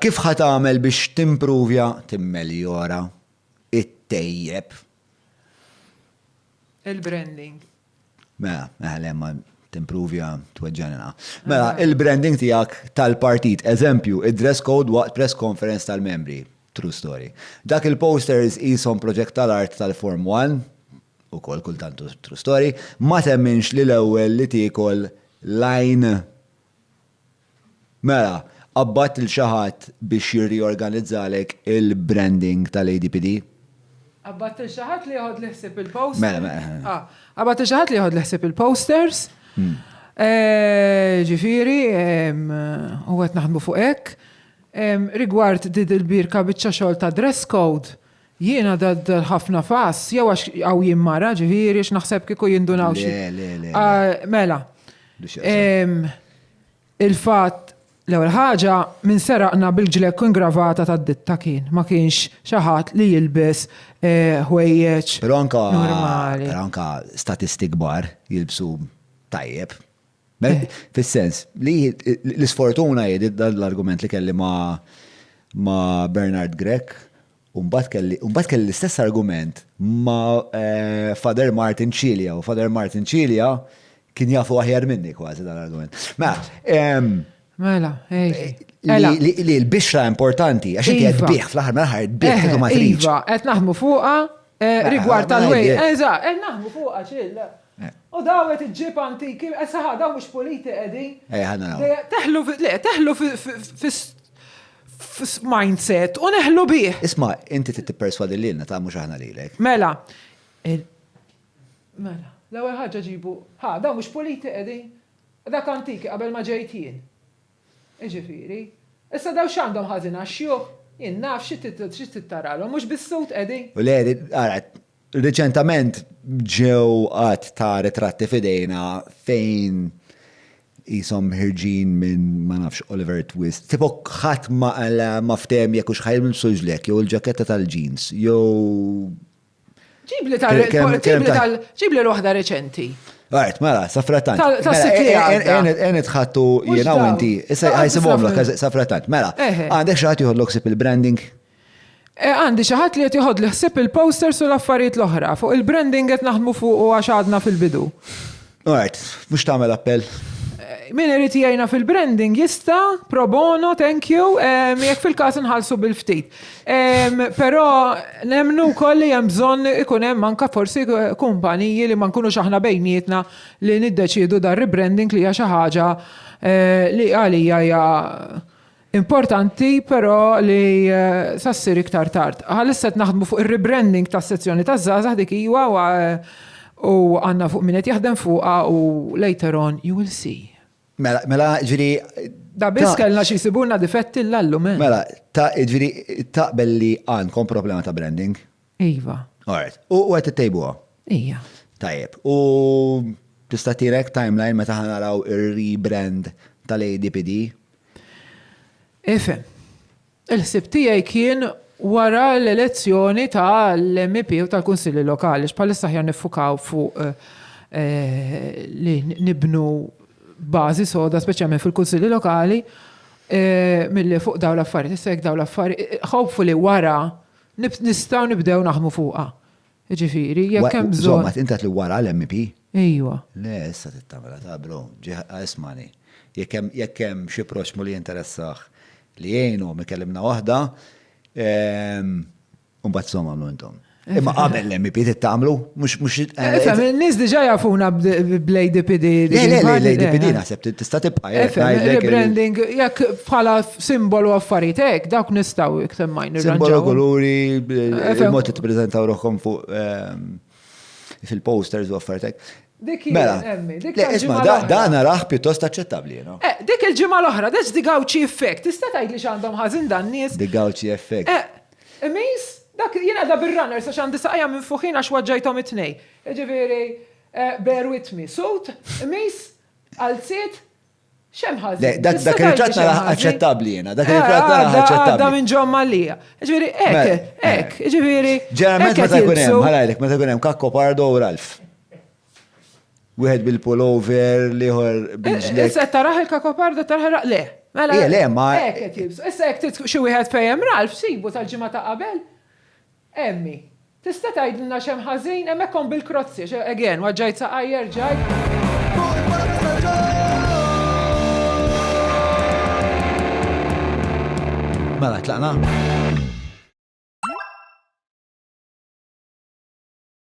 Kif ħa tagħmel biex timpruvja, timmeljora, ittejjeb? Il-branding. Mela, eħe le ma timpruvja tweġġagħni naqa'. Mela, il-branding tiegħek tal-partit, eżempju, id-dress code waqt press conference tal-membri, true story. Dak il-posters qishom proġett tal-art tal-Form One, ukoll kultant true story, ma temminx li l-ewwel li tiekol l-għajn Mela, qabadt lil xi ħadd biex jirriorganizzalek il-branding tal-ADPD? Qabadt lil xi ħadd li jeħodli ħsieb il-post. Mela, mela, eh. Ah, qabadt lil xi ħadd li jeħodli ħsieb il-posters. Eh, ġifieri, em, u qed naħdmu fuq hekk. Em, Rigward did il-birka biċċa xogħol ta' dress code, jiena dad ħafna fass, jew għax għaw jien mara, ġifieri, x'naħseb kieku jindunaw xi. Le, le, le, le. Ah, Mela, Biex jaqsam. em, Il-fatt, l-ewwel ħaġa, min seraqna bil-ġlekk ingravata tad-ditta kien, ma kienx xi ħadd li jilbes ħwejjeġ normali. Però anke statisti kbar jilbsu tajjeb. Fis-sens li l-isfortuna hi dan l-argument li kelli ma' Bernard Grech U mbagħad kelli, u mbagħad kelli l-istess argument ma' eh, Father Martin Cilia, u Father Martin Cilia kien jafu aħjar minni kważi dan l-argument. Ma, ehm, Mela, ej. Eh, Ela. li li- li l-bixra importanti, għax inti qed Iva. bih fl-aħħar mill-aħħar qed bih Eh, kif ma tridx. Iva, qed naħdmu fuqa eh, Ma- rigward ma tal-way. ngħidlek. Eża, qed naħdmu fuqa ċill. Eh. U daw qed iġġib antiki, esaħa daw mhux puliti qegħdin. Eh, ħanna naraw. Dejja- Teħlu fi- le, teħlu fi- fi- fi- mindset u neħlu bih. Isma, inti trid tipperswadi lilna ta' mhux aħna lilek. Mela. Mela, l-ewwel ħaġa ġibu, ha, dawn mhux puliti qegħdin? Dak antiki qabel ma ġejt jien. Jiġifieri, issa dawn x'għandhom ħażin għax-xjuħ? Jien naf xi trid taralhom, mhux bis-sud qegħdin. U l-għeri, ara, Riċentament ġew għadd ta' ritratti f'idejna fejn qishom ħirġin minn ma nafx Oliver Twist. Tipo ħadd ma qala ma ftehem jekk hux ħa jilbsux l-hekk jew il-ġaketta tal-jeans jew Ġibli tal, ġibli tal, ġibli l-waħda reċenti. Għart, mela, safratant. Għen itħattu jena u inti, issa għajsimom l safratant. Mela, għandek xaħat juħodlok sip il-branding? Eh għandi xi ħadd li qed joħodli ħsieb il-posters u l-affarijiet l-oħra. Fuq il-branding qed naħdmu fuqu għax għadna fil-bidu. Alright, mhux tagħmel appell. Min irid jgħinna fil-branding jista' pro bono, thank you, em, jekk fil-każ inħallsu bil-ftit. Em, Però nemmnu wkoll li hemm bżonn ikun hemm anke forsi kumpaniji li ma nkunux aħna bejnietna li niddeċiedu dar rebranding li hija xi ħaġa eh, li għalija hija Importanti però li sa ssir iktar tard. Bħalissa qed naħdmu fuq ir-rebranding tas-sezzjoni taż-żgħażagħ dik iva u għandna fuq min qed jaħdem fuqha u later on you will see. Mela, mela, ġifieri. Da biss kellna xi jsibulna difetti llallum, eh. Mela, ta, ġifieri taqbel li għandkom problema ta' branding? Iva. Alright. U għet t-tejbuha? Ija. Tajjeb. U tista' tirek timeline meta ħanaraw ir-rebrand tal-ADPD? Ifem. Il-ħsib tiegħi kien wara l-elezzjoni ta' l-MEP u tal-Kunsilli Lokali, x'palissa ħjar nifukaw fuq eh, li nibnu bażi soda, speċjalment fil-Kunsilli Lokali, eh, milli fuq daw l-affarijiet, issa jekk daw l-affarijiet, eh, hopefully wara Nistgħu nibdew naħdmu fuqha. Jiġifieri, jekk hemm bżonn. Insomma, int qed li wara l-MEP? Ejwa. Le, issa trid tagħmilha ta' bro. Ismagħni. Jekk hemm xi proxxmu li jinteressah li jgħinhom ikellimna waħda, u mbagħad insomma għamlu intom. Imma qabel l-MEP trid tagħmlu, mhux. Ifhem, in-nies diġà jafuna bl-ADPD. Le, le, le, l-ADPD naħseb tista' tibqa'. Rebranding, jekk bħala. Simbolu affarijiet hekk, dawk nistgħu iktar ma nirranġaw. Simbolu kuluri, il-mod li tippreżentaw ruħkom fuq ehm, fil-posters u affarijiet hekk. Dik mela, isma' da naraħ pjuttost aċċettabbli, no? Eh, dik il-ġimgħa l-oħra, that's the gawċi effect. Tista' tgħid li x'għandhom ħażin dan nies. The gawċi effect. Eh, imis, dak jien għadha bir-runner sa x'għandi saqajja minn fuħin għax waġġajthom it-tnej. Ġifieri, eh, bear with me. Sut, imis, għalziet, Xem ħażin. Le, dak dak ir-ritratt nara aċċettabbli jiena, dak ir-ritratt nara aċċettabbli. Għadda minn ġo Malija. Ġifieri hekk, Mela, hekk, ġifieri. Ġeneralment hekk meta qed jkun hemm, jilbsu. ħalajlek, meta jkun hemm Kakko Pardo u Ralf. Wieħed bil-pullover, l-ieħor bil-ġlek. Issa qed taraħ il-kakoparda taraħ ra- le. Mela. Eh, le, ma- Hekk qed jilbsu. Issa hekk trid xi wieħed fejjem Ralf sibu tal-ġimgħa ta' qabel. Emmi, Tista' tgħidilna x'hemm ħażin? Hemm hekk omm bil-krozzi, għax, again, waġġajt saqajja, erġajt. Fuq il-palazz ta' John! Mela tlaqna?